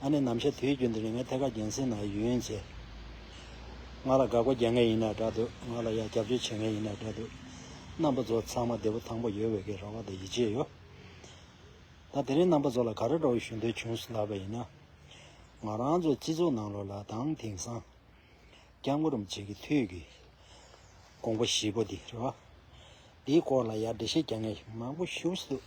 ཨ་ནེ་ནམ་ཞིག་དུས་རྒྱུན་དུ་རིང་མོའི་ཐད་ཀར་རྒྱུན་སྲིང་ནང་ཡུན་ཡུན་བྱས། ང་ལ་དགའ་གོ་རྒྱག་ངེས་ཡིན་ནའི་དྲ་འདུག་ང་ལ་ཡང་རྒྱབ་སྐྱོར་བྱེད་ངེས་ཡིན་ནའི་དྲ་འདུག་རྣམ་པ་ཚོ་ཚང་མ་བདེ་པོ་ཐང་པོ་ཡོད་འོས་ཀི་ར་བ་དང་ཡིད་ཆེས་ཡོད། ད་དེ་རིང་རྣམ་པ་ཚོ་ལ་ག་རེ་འདྲ་བོ་ཞུ་འདོད་བྱུང་སོང་ལབ་པ་ཡིན་ན། ང་རང་ཚོའི་སྤྱི་ཚོགས་ནང་ལོ་ལ་དང་དེང་སང་སྐྱབས་མགོ་རུམ་བྱེད་ཀི་དུས་ཀི་དགོངས་པ་བཞི་པོ་འདི་རེད་བ། འདིའི་སྐོར་ལ་ཡར་འགྲེལ་བཤད་རྒྱག་ངེས་ཞིག་མང་པོ་ཞུ་སོང་འདུག།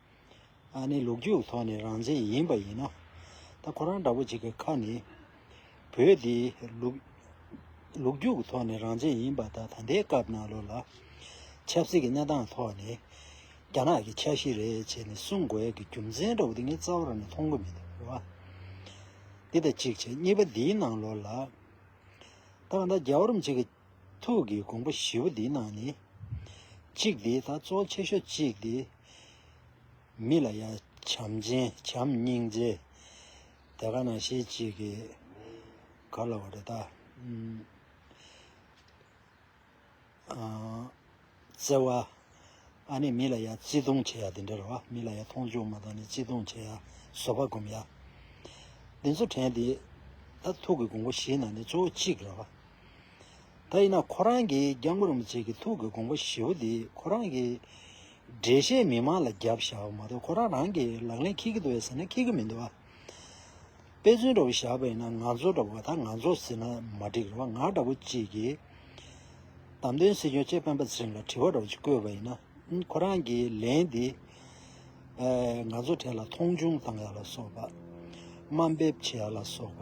ཨ་ནི་ལུག་རྒྱུགས་ཐོག་ནས་རང་བཙན་ཡིན་པ་ཡིན་ན། ད་ཁོ་རང་འདྲ་པོ་ཅིག་གི་ཁ་ནས། བོད་འདི་ལུག། ལུག་རྒྱུགས་ཐོག་ནས་རང་བཙན་ཡིན་པ་ད་ད་ལྟའི་སྐབས་ནང་ལོ་ལ། ཆབ་སྲིད་ཀྱི་གནས་སྟངས་ཐོག་ནས། རྒྱ་ནག་གི་འཆར་གཞི་རེད་བྱས་ནས་གསུང་དགོས་ཀྱི་རྒྱུ་མཚན་འདྲ་བོ་དེ་ངའི་རྩ་བ་རང་ནས་མཐོང་གི་མི་འདུག་བ། འདི་ད་གཅིག་བྱས་གཉིས་པ་འདིའི་ནང་ལོ་ལ། ད་ག་ད་རྒྱ་གོར་མ་ཅིག་གི། ཐུགས་ཀྱི་དགོངས་པ་བཞི་བོ་འདི་རྣམས་ནི། གཅིག་འདི་དག་གཙོ་ཆེ་ཤོས་གཅིག་སྟེ། མི་ལ་ཡང་བྱམས་ཆེན་བྱམས་སྙིང་རྗེ། དེ་ག་ན་ཞེ་གཅིག་གིས་ག་ལ་བ་རེ་ད། བརྩེ་བ། ཨ་ནི་མི་ལ་ཡང་བརྩེ་དུང་བྱེད་ཡ་དེ་འདྲ་རེད་བ། མི་ལ་ཡང་མཐོང་ཆུང་མ་གཏོང་ནི་བརྩེ་དུང་བྱེད་ཡ་བཟོ་བ་གོམས་ཡ། འདི་ཚོ་དྲན་དེ། ད་ཐུག་གི་དགོང་པོ་བཞི་ནང་ནས་གཙོ་བོ་གཅིག་རེད་བ། ད་ཡིན་ན་ཁོ་རང་གིས་རྒྱ་མགོ་རིང་པོ་བྱེད་ཀི་ཐུག་གི་དགོང་པོ་བཞི་བོ་དེ་ཁོ་རང་གིས། འགྲེལ་བཤད་མི་མང་ལ་རྒྱབ་བཞག་མ་གཏོགས་ཁོ་རང་རང་གིས་ལག་ལེན་ཁེལ་གི་འདུག་བས་ཟེར་ན་ཁེལ་གི་མི་འདུག་བ། དཔེ་མཚོན་འདྲ་བོ་བཞག་པ་ཡིན་ན་ང་ཚོ་འདྲ་བོ་ད་ང་ཚོ་ཟེར་ན་མ་འགྲིག་རེད་བ་ང་འདྲ་བོ་ཅིག་གིས་གདམ་དོན་སེལ་རྒྱུ་བཅས་སྤེན་པ་ཚེ་རིང་ལ་དྲི་བ་འདྲ་བོ་ཅིག་བཀོད་པ་ཡིན་ན་ཁོ་རང་གིས་ལན་འདི་ང་ཚོ་གྲས་ལ་མཐོང་ཆུང་བཏང་ཡག་ལ་སོགས་པ་དམའ་འབེབས་བྱེད་ཡག་ལ་སོགས་པ།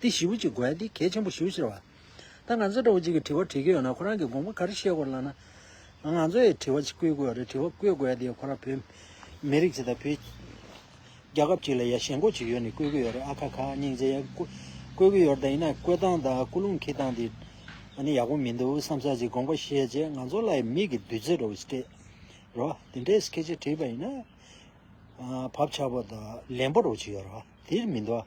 འདི་ཞིབ་ཀྱིས་གོ་ཡ་འདི་གལ་ཆེན་པོ་ཞིབ་ཕྱིར་བ། ད་ང་ཚོས་གྲོགས་གཅིག་གིས་དྲི་བ་དྲིས་ཀྱི་ཡོད་ན་ཁོ་རང་གིས་དགོངས་པ་ག་རེ་བཞེས་དགོས་ལགས་ན། ང་ཚོ་ཡི་དྲི་བ་ཅིག་བཀོད་དགོས་ཡ་རེད་དྲི་བ་བཀོད་དགོས་ཡ་འདི་ཁོ་རང་བོད་མི་རིགས་ཅིག་དང་བོད་རྒྱ་ཁབ་ཅིག་ལ་ཡ་ཞེན་ཁོག་ཅིག་ཡོད་ནི་བཀོད་དགོས་ཡ་རེད་ཨ་ཁ་ཁ་སྙིང་རྗེ་ཡ། བཀོད་དགོས་ཡོད་རེད་ད་ཡིན་ན་བཀོད་སྟངས་དང་བཀོད་ལུང་ཁྱི་སྟངས་འདི་ནི་ཡག་པོ་མི་འདུག་བསམ་ས་ཅིག་དགོངས་པ་བཞེས་རྗེས་ང་ཚོ་ལ་ཡི་མིག་གིས་བདུད་རྩི་རོ་སྤྲད་རོགས་འདི་འདྲའི་སྐད་ཆ་དྲིས་པ་ཡིན་ན། བབ་ཆགས་པོ་དང་ལན་པོ་རོགས་ཅིག་ཡོད་རོགས་འདིར་མི་འདུག་ཨ།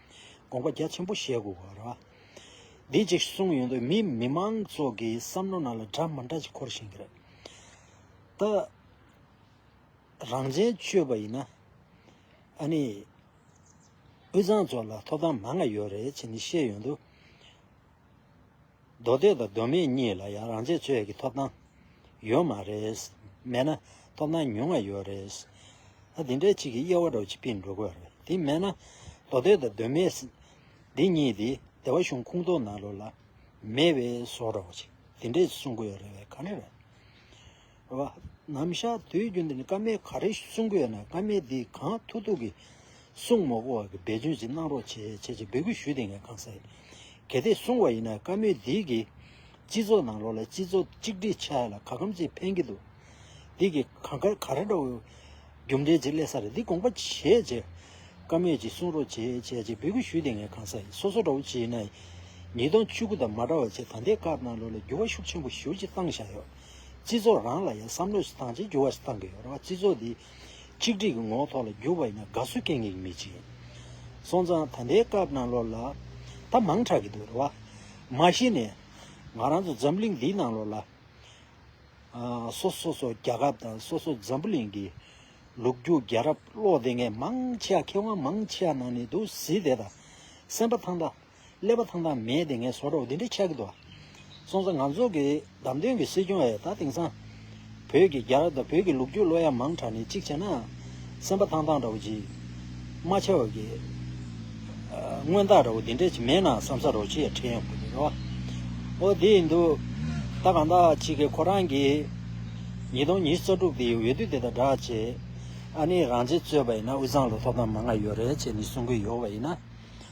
དགོངས་པ་རྒྱ་ཆེན་པོ་བཞེས་དགོས་པར་རོ། འདི་གཅིག་གསུངས་ཡོད་དུས་མི་མི་མང་ཚོགས་ཀྱི་བསམ་བློ་ནང་ལ་འདྲ་མ་འདྲ་ཅིག་འཁོར་བཞིན་གྱི་རེད། ད། རང་བྱན་ཆུད་པ་ཡིན་ན། ཨ་ནི། དབུས་གཙང་ཚོ་ལ་ཐོབ་ཐང་མང་ང་ཡོད་རེད་ཅེས་ནི་བཤད་ཡོད་དུས། མདོ་སྟོད་དང་མདོ་སྨད་གཉིས་ལ་ཡང་རང་བྱས་ཚོད་ཀྱི་ཐོབ་ཐང་ཡོད་མ་རེད། མེད་ན་ཐོབ་ཐང་ཉུང་ང་ཡོད་རེད། ད་དེ་འདྲའི་ཆིག་གི་དབྱེ་བ་སྒྲོག་ཅིག་པིན་འགྲོ་དགོས་རེད་དེ་མེད་ན། མདོ་སྟོད་དང་མདོ་སྨད། འདི་གཉིས་དེ་སྡེ་བ་གཞུང་ཁུངས་གཏོགས་ནང་ལོ་ལ། མེད་པའི་བཟོ་སྒྲོག་ཅིག་དེ་འདྲས་གསུང་དགོས་རེད་ག་འདྲ་རེད། བ། ནམ་ཞག་དུས་རྒྱུན་དུ་ནི་བཀའ་མའི་ག་རེ་གསུང་གི་ཡོད་ན་བཀའ་མའི་དེ་གང་ཐུག་ཐུག་གི་གསུང་མོ་གོ་བ་གི་འབད་བརྩོན་ཅིག་གནང་རོགས་བྱེད་བྱེད་ཅེས་འབོད་སྐུལ་ཞུས་ཏེ་ངས་གང་ཟེར། གལ་ཏེ་གསུང་བ་ཡིན་ན་བཀའ་མོས་འདི་གི་སྤྱི་ཚོགས་ནང་ལོག་ལ་སྤྱི་ཚོགས་གཅིག་སྒྲིལ་ཆ་ལ་ག་གམ་ཅིག་ཕན་གི་འདུག་འདི་གི་གང་དགར་ག་རེ་འདྲ་བོ་རྒྱུ་འབྲས་ཅིག་སླེ་ས་རེད་འདི་དགོངས་པ་བཞེས་བྱས། བཀའ་མོས་ཅིག་གསུང་རོགས་བྱེད་བྱེད་ཅེས་འབོད་སྐུལ་ཞུས་ཏེ་ངས་གང་ཟེར་སོ་སོ་འདྲ་བོ་ཅིག་ཡིན་ན་ཡིན། ཉིས་སྟོང་བཅུ་དགུ་དང་མ་འདྲ་བ་ཅིག་ད་ལྟའི་སྐབས་ནང་ལོག་ལ་འགྱུར་བ་ཤུགས་ཆེན་པོ་ཞུགས་ཅིག་བཏང་བཞག་ཡོད། སྤྱི་ཚོགས་རང་ལ་ཡང་བསམ་བློས་སུ་དང་བྱེད་འགྱུར་བ་ཞིག་གཏང་གི་ཡོད་རེད་བ་སྤྱི་ཚོགས་འདི་ཆིག་སྒྲིག་གི་ངོ་ཐོག་ལ་འགྱུར་བ་ཡིན་ན་དགའ་བསུ་སྐད་ངེས་ཀྱི་མི་བྱེད། སོང་ཙང་ད་ལྟའི་སྐབས་ནང་ལོགས་ལ་ད་མང་དྲག་གི་འདུག་རེད་བ། མ་གཞི་ནས་ང་རང་ཚོ་འཛམ་གླིང་འདིའི་ནང་ལོགས་ལ་སོ་སོ་སོ་རྒྱ་ཁབ་དང་སོ་སོ་འཛམ་བུ་གླིང་གི་ལུགས་རྒྱུ་རྒྱ་རབ་བློ་བདེ་མཁན་མང་ཆེ་བ་མཁས་དབང་མང་ཆེ་བ་ནང་ནས་འདུག་གཟི་དེ་དང་སེམས་པ་ཐང་ད། ཀླད་པ་ཐང་ཐང་མེད་དེ་ངས་བཟོ་རོགས་འདི་འདྲ་ཆགས་ཀྱི་འདུག་སོང་ཙང་ང་ཚོ་གི་བདམས་ཐོན་གྱི་སྲིད་སྐྱོང་ཨེ་ད་དེང་སང་བོད་ཀྱི་རྒྱ་རབ་དང་བོད་ཀྱི་ལུག་རྒྱུ་ལོ་ཡ་མང་དྲ་ནས་གཅིག་བྱས་ན་སེམས་པ་ཐང་ཐང་འདྲ་བོ་ཅིག་རྨ་བྱ་བ་གི་སྔོན་རྟགས་འདྲ་བོ་འདི་འདྲ་ཅིག་མེད་ན་བསམ་ས་རོགས་ཅི་ཡ་ཁྲེལ་ཡོད་ཁོ་ཐག་རེད་བ་འོ་དེ་ཡིན་དུས་ད་གང་དག་ཅིག་གིས་ཁོ་རང་གི་ཉིས་སྟོང་ཉིས་རྩ་དྲུག་དེའི་འོས་བསྡུ་དེ་དང་སྦྲགས་ཆེད་ཨ་ནི་རང་བྱེད་རྩོད་པ་ཡིན་ན་དབུས་གཙང་ལ་ཐོབ་ཐང་མང་ང་ཡོད་རེད་ཅེས་ནི་གསུང་གི་ཡོད་བ་ཡིན་ན།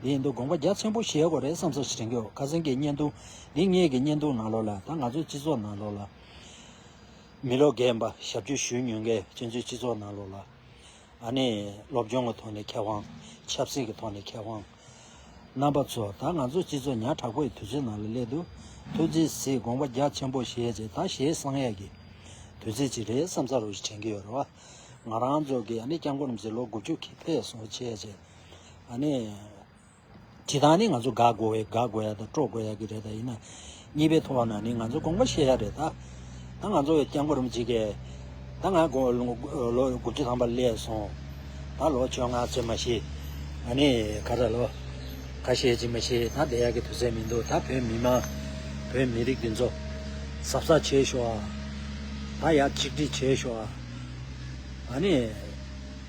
འདི་ཡིན་འདུག་དགོངས་པ་རྒྱ་ཆེན་པོ་བཞེས་དགོས་རེད་བསམ་བསམ་ཞིག་དྲན་གི་འོ་ཁ་སེང་གི་བརྙན་ཐུང་འདི་ངེད་ཀྱི་བརྙན་ཐུང་ནང་ལོགས་ལ་ད་ང་ཚོའི་སྤྱི་ཚོགས་ནང་ལོགས་ལ་མི་ལོ་རྒས་འབའ་ཞབས་ཆུ་ཞུ་ཉུལ་མཁན་སྤྱི་ཚོའི་སྤྱི་ཚོགས་ནང་ལོགས་ལ་ཨ་ནི་སློབ་སྦྱོང་གི་ཐོག་ནས་མཁས་དབང་ཆབ་སྲིད་ཀྱི་ཐོག་ནས་མཁས་དབང་རྣམ་པ་ཚོ་ད་ང་ཚོའི་སྤྱི་ཚོགས་ཉག་དྲག་པོ་ཡི་དུས་ཚོད་ནང་ལ་སླེབས་འདུག་ཐུགས་རྗེ་གཟིགས་དགོངས་པ་རྒྱ་ཆེན་པོ་བཞེས་རྗེས་ད་ཞེ་བསང་ཡས་ཀྱི་དུས་ཚོད་ཅིག་རེད་བསམ་བསམ་རུང་ཞིག་དྲན་གི་ཡོད་རེད་བ། ང་རང་ཚོ་གི་ཨ་ནི་སྐྱབས་མགོན་རྣམ་སྲས་ལོ་དགུ་བཅུ་གི་ཕེབས་སོང་བ་བྱས་རྗེས། ཨ་ནི། དེ་དག་ནི་ང་ཚོ་དགག་དགོ་བའི་དགག་དགོ་ཡ་དང་དཀྲོག་དགོ་ཡ་གི་རེད་ད་ཡིན་ན། གཉིས་པའི་ཐོག་ན་ནི་ང་ཚོ་དགོངས་པ་བཞེས་ཡ་རེད་ད། ད་ང་ཚོ་སྐྱབས་མགོན་རིན་པོ་ཆེ་ད་ང་ལོ་དགུ་བཅུ་ཐམ་པ་སླེ་སོང། ད་ལོ་བཅོ་ལྔ་ཚོད་མ་ཤེས། ཨ་ནི། ཁ་ད་ལོ། ཁ་ཤེས་ཀྱི་མ་ཤེས་ད་བསྡད་ཡ་གི་དུས་ཚད་མི་འདུག་ད་བོད་མི་མང། བོད་མི་རིགས་འདི་ཚོ། ཟབ་ས་བྱེད་ཤོག་ཨ། ད་ཡ་གཅིག་སྒྲིལ་བྱེད་ཤོག་ཨ། ཨ་ནི།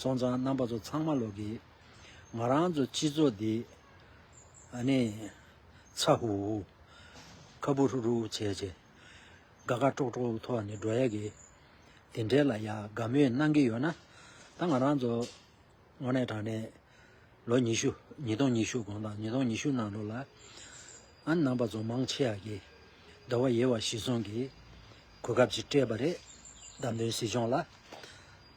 སོང་ཙང་རྣམ་པ་ཚོ་ཚང་མ་ལོག་གི། ང་རང་ཚོ་སྤྱི་ཚོགས་འདི། ཨ་ནི། ཚ་ཧུ་ཧུ། ཁ་བུ་ཧྲུག་ཧྲུག་བྱས་བྱས། དགའ་དགའ་དཀྲོག་དཀྲོག་ཐོག་ནས་འགྲོ་ཡ་གི། དེ་འདྲའི་ལ་ཡ་དགའ་མོས་གནང་གི་ཡོད་ན། ད་ང་རང་ཚོ། དངོས་གནས་དྲང་གནས། ལོ་ཉི་ཤུ། ཉིས་སྟོང་ཉི་ཤུ་གོང་དང་ཉིས་སྟོང་ཉི་ཤུ་ནང་ལོ་ལ། ཨ་ནི་རྣམ་པ་ཚོ་མང་ཆེ་ཡ་གི། དགྲ་བོ་ཡེ་བ་ཞིག་སོང་གི། གོ་སྐབས་ཅིག་སྤྲད་པ་རེད། བདམས་ཐོན་སྲིད་སྐྱོང་ལ།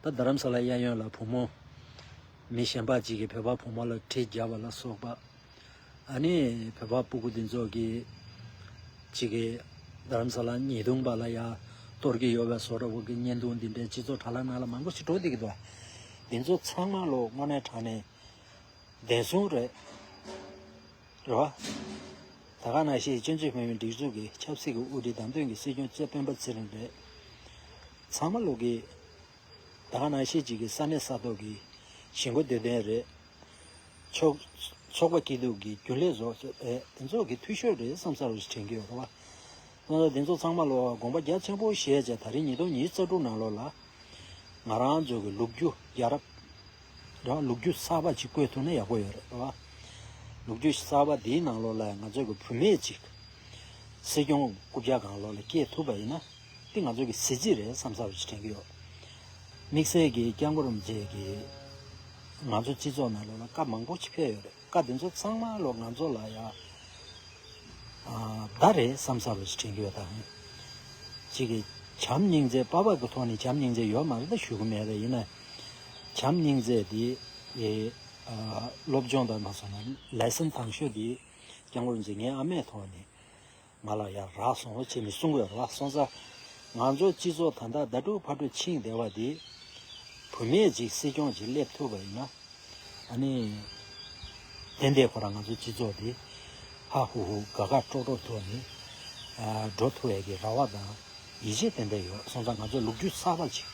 ད་རྡ་རམ་ས་ལ་གཡས་གཡོན་ལ་བུ་མོ། མི་གཞན་པ་གཅིག་གིས་བོད་པ་བུ་མོ་ལ་གྲི་རྒྱག་པ་ལ་སོགས་པ། ཨ་ནི་བོད་པ་སྤུ་གུ་འདི་ཚོ་གིས། གཅིག་གིས་རྡ་རམ་ས་ལ་ཉེས་རྡུང་པ་ལ་ཡ། གཏོར་གི་ཡོད་བས་སོ་ར་བོ་གི་བརྙན་ཐུང་འདི་འདྲའི་སྤྱི་ཚོགས་དྲ་ལ་ནང་ལ་མང་པོ་ཞིག་གྲོགས་འདི་གི་འདུག་ཨ། འདི་ཚོ་ཚང་མ་ལོ་སྔོ་ནས་དྲག་ནས་བདེན་སྲུང་རེད། རེད། རེད་བ། ད་ག་ན་ཤེས་སྤྱི་མཐུས་བོད་མིའི་སྒྲིག་འཛུགས་ཀྱི་ཆབ་སྲིད་ཀྱི་དབུ་ཁྲིད་བདམས་ཐོན་གྱི་སྲིད་སྐྱོང་གཙོས་སྤེན་པ་ཚེ་རིང་རེད། ཚང་མ་ལུག་གི། ད་ག་ན་ཤེས་གཅིག་གི་ས་གནས་ས་ཐོག་གི་ཞི་འགོ་འདོད་མཁན་རེད། ཕྱོགས་པ་སྐྱིད་སྡུག་གི་རྒྱུན་ལས་ཟོག་ཟོ་རེད་དེ་ཚོ་གི་འཐུས་ཤོར་རེད་བསམ་ས་རུ་དྲན་གི་ཡོད་རེད་བ། སྟོན་ཟོ་དེ་ཚོ་ཚང་མ་ལོག་བ་དགོངས་པ་རྒྱ་ཆེན་པོ་བཞེས་བྱས་ད་རིང་ཉིས་སྟོང་ཉིས་རྩ་དྲུག་ནང་ལོག་ལ། ང་རང་ཚོ་གི་ལུག་ཁྱུ་རྒྱལ་རབས། རེད་བ་ལུག་རྒྱུ་གསར་པ་གཅིག་བཀོད་ཐུབ་ན་ཡག་པོ་ཡོད་རེད་བ། ལུག་རྒྱུ་གསར་པ་དེའི་ནང་ལོགས་ལ་ཡང་ང་ཚོ་གི་བུད་མེད་ཅིག་སྲིད་སྐྱོང་རྐུབ་བཀྱག་གང་ལོགས་ལ་སྐྱེལ་ཐུབ་པ་ཡིན་ན་དེ་ང་ཚོ་གི་གཟི་བརྗིད་རེད་བསམ་ས་བ་ཅིག་དྲན་གི་ཡོད། དམིགས་བསལ་གི་སྐྱག་མགོ་རུམ་བཅས་ཀྱི་ང་ཚོ་སྤྱི་ཚོགས་ནང་ལོགས་ལ་བཀའ་མང་པོ་ཅིག་ཕེབས་ཡོད་རེད་བཀའ་དེ་ཚོ་ཚང་མ་ལོགས་ང་ཚོ་ལ་ཡག་བདག་རེད་བསམ་ས་བ་ཅིག་དྲན་གི་ཡོད་ད། གཅིག་གི་བྱམས་སྙིང་རྗེ་དཔའ་བར་གི་ཐོག་ནས་བྱམས་སྙིང་རྗེ་ཡོད་མ་རེད་ད་ཞུ་གི་མེད་རེད་ཡིན་ན། བྱམས་སྙིང་རྗེ་འདི། སློབ་སྦྱོང་དང་ན་སོང་ན་ལས་སེམས་དྭངས་ཤོས་འདི། སྐྱབས་མགོན་འཛིན་ངའི་ཨ་མས་ཐོག་ནས། ང་ལ་ཡར་རག་སོང་ལོ་བྱེད་མི་གསུང་བའི་རོགས་སོང་ས། ང་ཚོའི་སྤྱི་ཚོགས་ད་ལྟ་ཟླ་དྲུག་ཕར་འགྲོ་ཕྱིན་བདེ་བ་འདི། བུ་མེད་ཅིག་སྲིད་སྐྱོང་ཅིག་སླེབས་ཐུབ་པ་ཡིན་ན། ཨ་ནི། དེ་འདས་ཁོ་རང་ང་ཚོའི་སྤྱི་ཚོགས་འདི། ཧ་ཧུ་ཧུ་དགའ་དགའ་སྤྲོ་སྤྲོ་ཐོག་ནས། འགྲོ་ཐུབ་འི་གི་ར་བ་དང། ཡིད་ཆེས་ཏན་ཏན་ཡོད་སོང་ཙང་ང་ཚོས་ལུག་ཁྱུ་གསར་པ་ཅིག་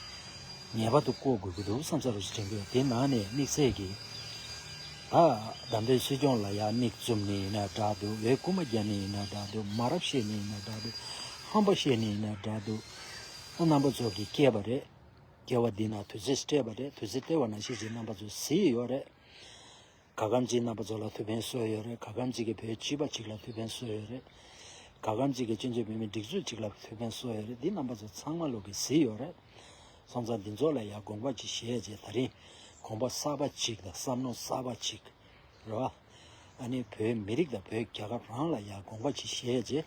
ངེས་པར་དུ་བརྐོ་དགོས་ཀྱི་འདུག་བསམ་ས་རུ་ཞིག་དྲན་དགོས་དེ་ནང་ནས་དམིགས་བསལ་གྱི། ད་ལྟ་འདྲའི་སྲིད་སྐྱོང་ལ་ཡག་མིག་བཙུམ་ནས་ཡིན་ན་འདྲ་འདུག་འེ་རྐུ་མ་རྒྱབ་ནས་ཡིན་ན་འདྲ་འདུག་མ་རབས་བཤད་ནས་ཡིན་ན་འདྲ་འདུག་ཧམ་པ་བཤད་ནས་ཡིན་ན་འདྲ་འདུག་ཨ་རྣམ་པ་ཚོ་གི་སྐྱེས་པ་རེད། སྐྱེ་བ་འདི་ན་དུས་ཚོད་སྤྲད་པ་རེད་དུས་ཚོད་སྟེར་བ་ན་ཤེས་ཚེ་རྣམ་པ་ཚོ་བཟི་ཡི་ཡོད་རེད། ག་གམ་གཅིག་གནའ་པ་ཚོ་ལ་ཐུགས་ཕན་གསོས་ཡོད་རེད་ག་གམ་གཅིག་གི་བོད་སྤྱི་པ་ཅིག་ལ་ཐུགས་ཕན་གསོས་ཡོད་རེད། ག་གམ་གཅིག་གི་སྤྱི་མཚོས་བོད་མི་སྒྲིག་འཛུགས་ཅིག་ལ་ཐུགས་ཕན་གསོས་ཡོད་རེད་འདི་རྣམ་པ་ཚོ་ཚང་མ་ལུག་གི་གཟི་ཡོད་རེད། སོང་ཙང་འདི་ཚོ་ལ་ཡང་དགོངས་པ་ཅིག་བཞེས་རྗེས་ད་རིང་དགོངས་པ་གསར་པ་ཅིག་དང་བསམ་མནོ་གསར་པ་ཅིག་རེད་བ། ཨ་ནི་བོད་མི་རིགས་དང་བོད་རྒྱ་གར་རང་ལ་ཡང་དགོངས་པ་ཅིག་བཞེས་རྗེས།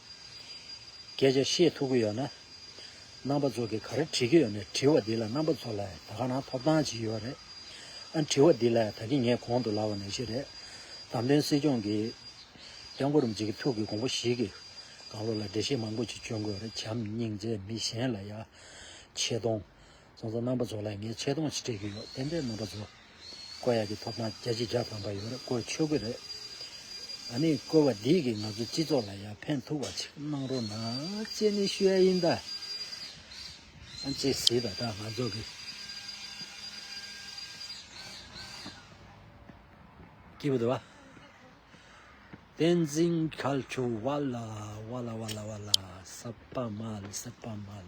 སྐད་ཆ་བཤད་ཐུབ་ཀྱི་ཡོད་ན། རྣམ་པ་ཚོ་གིས་ག་རེ་དྲིས་ཀྱི་ཡོད་ནས་དྲི་བ་འདི་ལ་རྣམ་པ་ཚོ་ལའེ་ད་ག་ནང་ཐོབ་ཐང་ཇི་ཡོད་རེད། ཨ་དྲི་བ་འདི་ལའེ་ད་གི་ངས་གོང་དུ་ལབ་བ་ནས་ཤི་རེད། དམ་དོན་སྲིད་སྐྱོང་གིས། སྐྱབས་མགོ་རུ་འཇིགས་ཀྱི་ཐུགས་ཀྱི་གོང་བུ་ཞིག་གིས། དགང་བློ་ལ་འགྲེལ་བཤད་མང་པོ་ཅིག་བྱོན་དགོས་རེད་བྱམས་སྙིང་རྗེ་མི་གཞན་ལ་ཡ། ཆེ་གཏོང། གཙང་བཟའ་རྣམ་པ་ཚོ་ལ་ངས་ཆེ་མཐོང་ཞིག་སྤྲད་ཀྱི་ཡོད་དེ་འདྲའི་རྣམ་པ་ཚོ། བསྐོ་ཡག་གི་ཐོབ་ཐང་རྒྱ་ཆེ་རྒྱ་ཕམ་པ་ཡོད་རེད་བསྐོ་ཆོག་གི་རེད། ཨ་ནི་བསྐོ་བ་འདིས་གིས་ང་ཚོའི་སྤྱི་ཚོགས་ལ་ཡང་ཕན་ཐུག་བ་ཆིག་གནང་རོགས་གནང་ཅེས་ནས་ཞུ་ཡ་ཡིན་ད། ཅེས་ཟེར་བ་ད་ང་ཚོ་གི། སྐྱིད་པོ་འདུག་བ། བསྟན་འཛིན་ཁལ་ཆུ་བ་ལ་བ་ལ་བ་ལ་བ་ལ་བསད་པ་མ་བསད་པ་མ།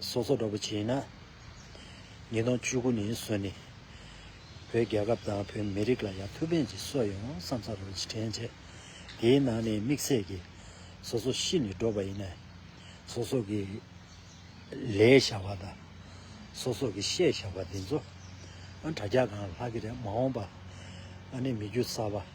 སོ་སོ་འདྲ་པོ་བྱས་ན། ཉིས་སྟོང་བཅུ་དགུ་ནས་བཟུང་ནས། བོད་རྒྱལ་ཁབ་དང་བོད་མི་རིགས་ལ་ཡང་ཐུགས་ཕན་གྱི་སྲོལ་ཡོང་བསམ་ས་རུ་ཕྱིར་དྲན་བྱས། དེའི་ནང་ནས་དམིགས་བསལ་གྱིས། སོ་སོ་ཤི་ནས་འགྲོ་བ་ཡིན་ན། སོ་སོ་གི། ལས་བྱ་བ་དང། སོ་སོ་གི་བཤད་བྱ་བ་འདི་ཚོ། དྲ་རྒྱ་གང་ལྷག་གི་རེད་མ་འོངས་པ། ཨ་ནེ་མི་རྒྱུ་ས་བ།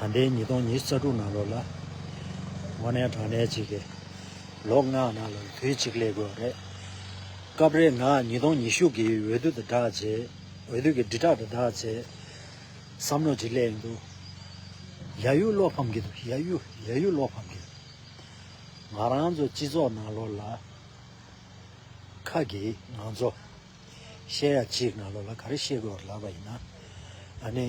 ད་ལྟའི་ཉིས་སྟོང་ཉིས་བརྩ་དྲུག་ནང་ལོགས་ལ་དངོས་གནས་དྲང་གནས་ཅིག་གིས་ལོ་ལྔ་ནང་ལོགས་དུས་གཅིག་གླེགས་དགོས་པ་རེད། སྐབས་རེ་ང་ཉིས་སྟོང་ཉི་ཤུ་གི་འོས་བསྡུ་དང་སྦྲགས་རྗེས་འོས་བསྡུ་གི་དྲིལ་བསྒྲགས་དང་སྦྲགས་རྗེས་བསམ་བློ་ཅིག་གླེང་འདུག་ཡ་ཡུ་བློ་ཕམ་གི་འདུག་ཡ་ཡུ་ཡ་ཡུ་བློ་ཕམ་གི་འདུག་ང་རང་ཚོ་སྤྱི་ཚོགས་ནང་ལོགས་ལ་ཁ་གི་ང་ཚོ་བཤད་ཡ་གཅིག་ནང་ལོགས་ལ་ག་རེ་བཤད་དགོས་པ་ལབ་པ་ཡིན་ན་ཨ་ནི།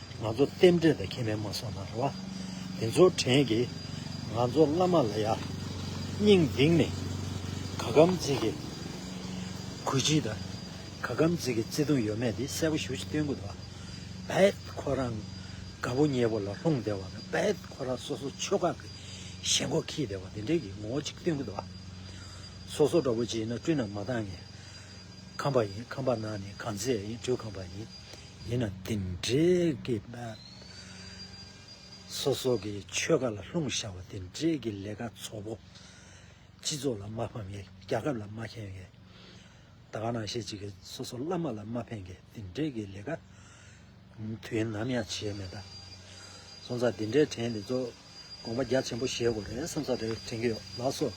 ང་ཚོ་རྟེན་འབྲེལ་དང་ཁྱད་མེད་མ་སོང་ན་རེ་བ། དེ་ཚོ་དྲན་གི། ང་ཚོ་བླ་མ་ལ་ཡག་སྙིང་གདིང་ནས། ག་གམ་བརྩི་གི། གུས་བརྩི་དང། ག་གམ་བརྩི་གི་བརྩེ་དུང་ཡོད་མེད་དེ་གསལ་པོ་ཞུ་ཅི་སྟོན་གུ་དོག་བེད། ཁོ་རང་དགའ་པོ་མཉེས་པོ་ལ་ལྷུང་བདེ་བ་ལ་བེད་ཁོ་རང་སོ་སོ་ཆོལ་ཁ་གི་ཞེན་ཁོག་ཁྱི་དེ་བ་དེ་འདྲེ་གི་ངོ་བོ་ཅིག་སྟོན་གུ་དོག་སོ་སོ་འདྲ་པོ་ཅིག་ཡིན་ན་སྤྲུལ་ན་མ་བཏང་ངས་ཁམས་པ་ཡིན་ཁམས་པ་ནང་ནས་གང་ཚེ་ཡིན་སྤྲུལ་ཁམས་པ་ཡིན། ཡིན་ན་དེ་འདྲའི་གི་ན། སོ་སོ་གི་ཆོལ་ཁ་ལ་ལྷུང་བཞག་པ་དེ་འདྲའི་གི་ལས་ཀ་ཚོ་བོ། སྤྱི་ཚོགས་ལ་མ་ཕམ་གི་རྒྱ་ཁབ་ལ་མ་ཁེན་གི། ད་ག་ནང་བཤད་ཅིག་གི་སོ་སོ་བླ་མ་ལ་མ་ཕན་གི་དེ་འདྲའི་གི་ལས་ཀ། དུས་ནམ་ཡང་བྱེད་མེད་ད། སོང་ཙང་དེ་འདྲའི་དྲན་དེ་ཚོ། དགོངས་པ་རྒྱ་ཆེན་པོ་བཞེས་དགོས་རེད་བསམ་ས་རེད་དྲན་གྱི་ཡོད་ལགས་སོ།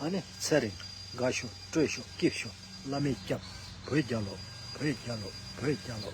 ཨ་ནི་ཚེ་རིང། དགའ་ཤོག་སྤྲོས་ཤོག་སྐྱིད་ཤོག་བླ་མས་སྐྱབས། བོད་རྒྱལ་ལོ། བོད་རྒྱལ་ལོ། བོད་རྒྱལ་ལོ།